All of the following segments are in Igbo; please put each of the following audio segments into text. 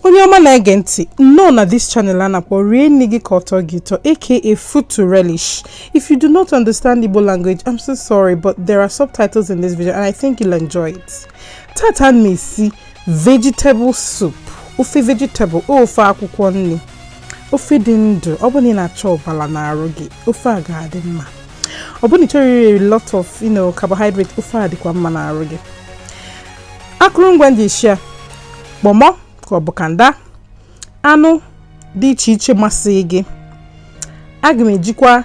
onye ọma na-ege ntị nnọọ na this channel a na-akpọ rie nni gị ka ọ tọọ gị ụtọ aka food to relish if you do not understand Igbo language I'm so sorry but there are subtitles in this video and I think you'll enjoy it tata m na-esi vegetable soup ofe vegetable ofe akwụkwọ nni ofe dị ndụ ọ bụrụ na ị na-achọ ọbala n'arụ gị ofe a ga-adị mma ọ bụrụ na ị chọrọ iri lot of you know carbohydrate ofe a dịkwa mma n'arụ gị akụrụngwa ndị ishi ya kpọmọ ka ọ bụ kanda anụ dị iche iche masị gị aga m ejikwa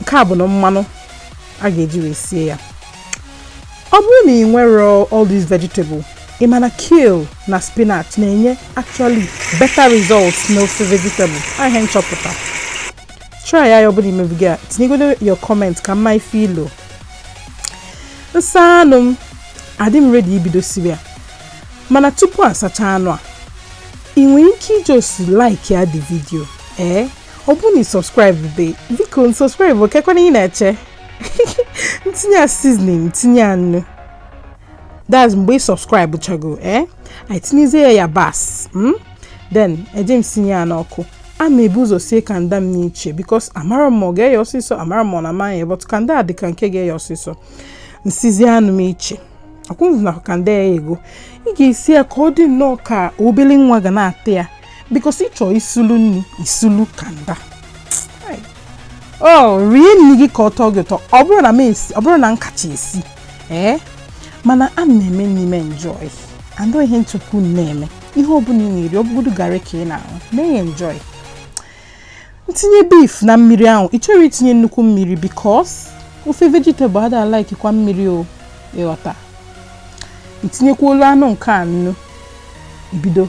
nke a bụ na mmanụ a ga-eji wee sie ya ọ bụrụ na ị nwere all these vegetable ị ma na kale na spinach na-enye actually better results n'ofe vegetable ihe m chọpụta try ya ọ bụrụ na i mebeghị ya tinyegodo your comment ka m ma ife i lo m sa anụ m adị m ready ibido siwe ya mana tupu asacha anụ a ị nwere ike ị just like ya the video ee eh? ọ bụrụ na ị subscribe be biko subscribe kekwanụ ihe ị na-eche m tinye ya seasoning tinye ya nnu that's mgbe ị subscribe chago ee eh? anyị tinyezie ya yabasị hmm? then eje m sinye ya n'ọkụ a ma ebu ụzọ sie kanda m n'iche because amara m ọ ga-eye ọsịsọ amara m ọ na amaghị but kanda a dị ka nke ga-eye ọsịsọ m sizie anụ m iche akwụnụ na kanda eyego ị ga-esi ya ka ọ dị nnọọ ka obele nwa ga na-ata ya because ị chọọ isulu nni isulu kanda o oh, rie nni gị ka ọ tọọ gị ụtọ ọ bụrọ na m esi ọ bụrọ na m kacha esi ee eh? mana a m na-eme nni m enjoy and ọ ihe nchekwu na-eme ihe ọbụla ị na-eri ọbụgodu garị ka ị na-aṅụ mee ya enjoy m tinye beef na mmiri ahụ ị chọrọ itinye nnukwu mmiri because ofe vegetable ada like kwa mmiri o ị ghọta i tinyekwuolu anụ nke a nnu ibido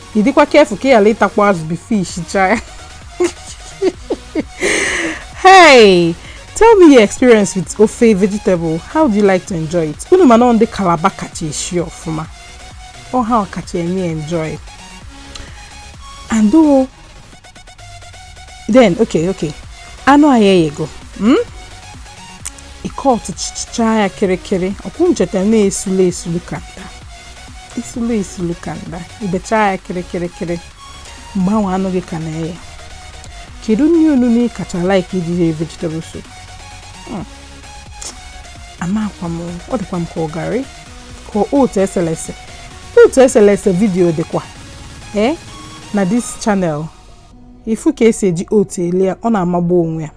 ị dịkwa careful ka ị ghara ịtakwa azụ before i shicha ya hey tell me your experience with ofe vegetable how do you like to enjoy it unu ma na ọ ndị Calabar kacha eshi ọfụma ọ ha kacha eme enjoy and o then okay okay anụ anyị eyego hmm? ị cut cha ya kịrịkịrị ọkwa unu cheta na esulu esulu kanda esulu esulu kanda i becha ya kịrịkịrị kịrị mgbe ahụ anụ gị ka na-eye kedu nni onuno ị kacha like iji rie vegetable soup hmm. amakwa m o ọ dịkwa m ka ọ garị ka otu eselese otu eselese video dịkwa ee eh, na this channel ịfụ ka esi eji otu ele ya ọ na-amagbu onwe ya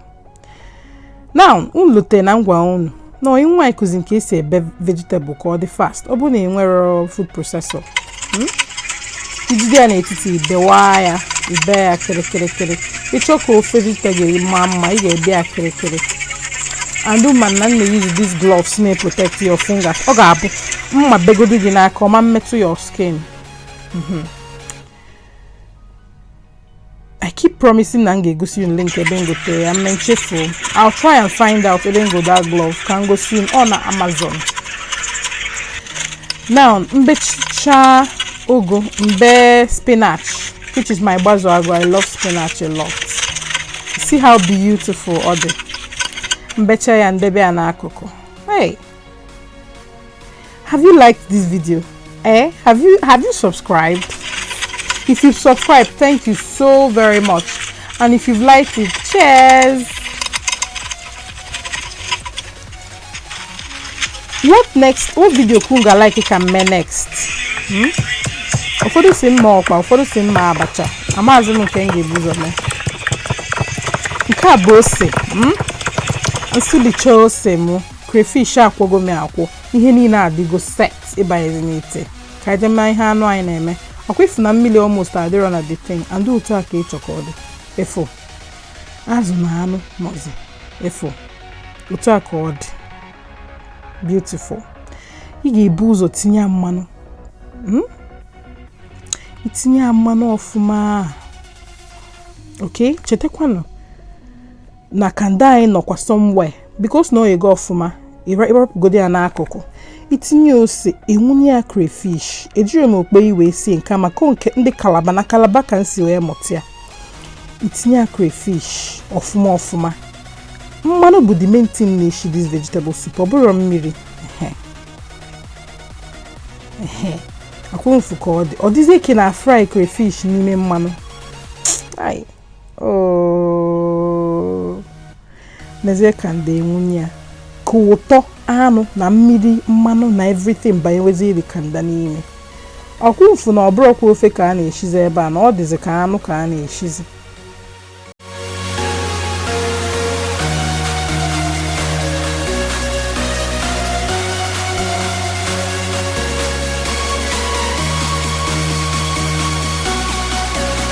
na unu lute na ngwa unu na onye nwanyị kụzi nke esi ebe vegetable ka ọ dị fast ọ bụrụ na ị nwerọ food processor hmm? ijide ya n'etiti ibewa ya ibe ya kịrịkịrịkịrị ịchọ ka ofe vegetable maa mma ị ga-ebe ya kịrịkịrị and ma na m na-use these gloves na-protect your fingers ọ ga-abụ mma begodu gị n'aka ọ ma emetụ your skin hmm. I keep promising na m ga-egosi unu link ebe m gotere ya mme nchefu I'll try and find out ebe m go that glove ka m gosi unu na Amazon now m becha ugu m be spinach which is my gbazu agwa I love spinach a lot see how beautiful ọ dị m becha ya m debe ya n'akụkụ hey Have you liked this video? Eh? Have you have you subscribed? If you've subscribed, thank you so very much. And if you've liked it, cheers! What next? What video ka unu ga-like ka m mee next? Hmm? Ụfọdụ sị m mee ọkpa, ụfọdụ sị m mee abacha. Amaazị m nke m ga-ebu ụzọ mee. Nke a bụ ose. Hmm? M sụlicha ose mụ. crayfish akwọgo m akwọ ihe niile adịgo set ịbanyezi n'ite ka e je ma ihe anụ anyị na-eme ọkwa ịfụ na mmiri almost adịrọ na the thing and otu a ka ịchọ ka ọ dị ịfụ azụ na anụ nọzi ịfụ otu a ka ọ dị beautiful ị ga-ebu ụzọ tinye ya mmanụ hmm? itinye ya mmanụ ọfụma ok chetakwanụ na kanda anyị nọkwa somewhere because na o yego ọfụma ịrapụgodi ya n'akụkụ itinye ose ịwụnye ya crayfish ejiri m okpei wee sie nke maka nke ndị Calabar na Calabar ka m si wee mụta ya itinye ya crayfish ọfụma ọfụma mmanụ bụ the main thing na-eshi this vegetable soup ọ bụrọ mmiri ọkwa unu fụ ka ọ dị ọ dịzie ka a na-fry crayfish n'ime mmanụ mezie kanda ịwụnye ya ka ụtọ anụ na mmiri mmanụ na everything banyeweziri kanda n'ime ọkwa unu fụ na ọ bụrọkwa ofe ka a na-eshizi ebe a na ọ dịzi ka anụ ka a na-eshizi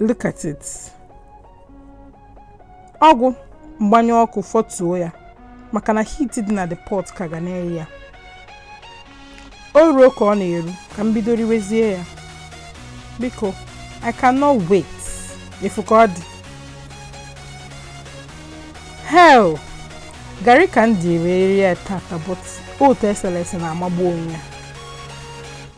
look at it ọ gwụ m gbanyụ ọkụ fọtuo ya maka na heat dị na the pot ka ga na-eye ya o ruo ka ọ na-eru ka m bido riwezie ya biko i cannot wait ị fụ ka ọ dị hell garị ka m ji eri ya tata but otu eselese na-amagbu onwe ya